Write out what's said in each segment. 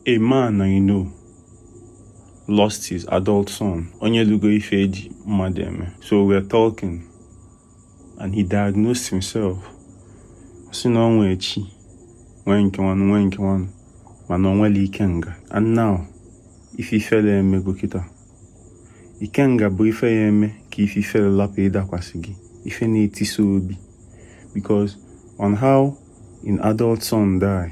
A man I know lost his adult son, onye lugo ife eji mmadụ eme. So we were talking, and he diagnosed himself. Sị na o nwe chi, nwee nke nwanụ, nwee nke nwanụ, mana o nwerọ Ikenga. And now, ife ifele emego kịta. Ikenga bụ ife ya eme ka ife ifele lapụ ịdakwasị gị, ife na-etisa obi. Because on how an adult son die,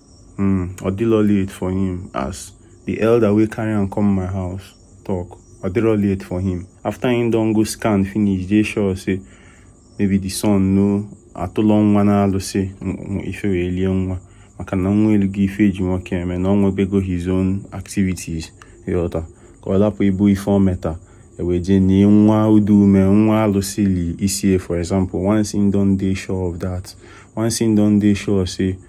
Hmm, ọ dịlọ late for him as the elder wey carry am come my house talk ọ dịlọ late for him after him don go scan finish dey sure say maybe the son no atụlọ nwa na-alụsị ife wee lie nwa maka na nwa elugo ife eji nwoke eme na ọ nwebego his own activities ịghọta ka ọ lapụ ịbụ ife o meta ewee jee nie nwa udu ume nwa alụsị li isie for example once him don dey sure of that once him don dey sure say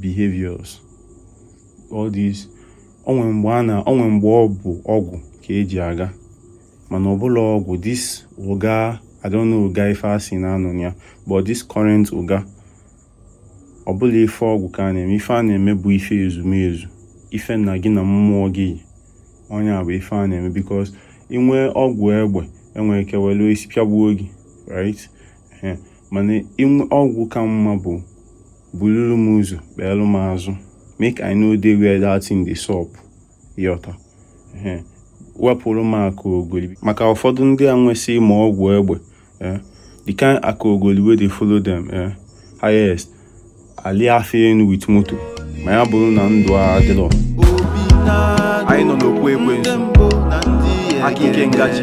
behaviors all these onwe mgbe a na onwe mgbe ọ bụ ọgwụ ka eji aga mana ọ bụrọ ọgwụ this ụga I don't know ụga ife asị na a nọ na ya but this current ụga ọ bụrọ ife ọgwụ ka a na-eme ife a na-eme bụ ife ezumezu ife na gị na mmụọ gị ọ nya bụ ife a na-eme because i nwee ọgwụ egbe enwere ike welu isi pịagbuo gị right mana inwe ọgwụ ka mma bụ buluru m ụzọ kpeelụ m azụ make I no dey where that thing dey sup yọta wepụrụ m aka ogoli maka ụfọdụ ndị a nwesị ma ọgwụ egbe eh, the kind aka ogoli wey dey follow them eh, highest a lịa fa enu with moto ma ya bụrụ na ndụ a adịrọ anyị nọ n'okwu ekwensu aka Ikenga ji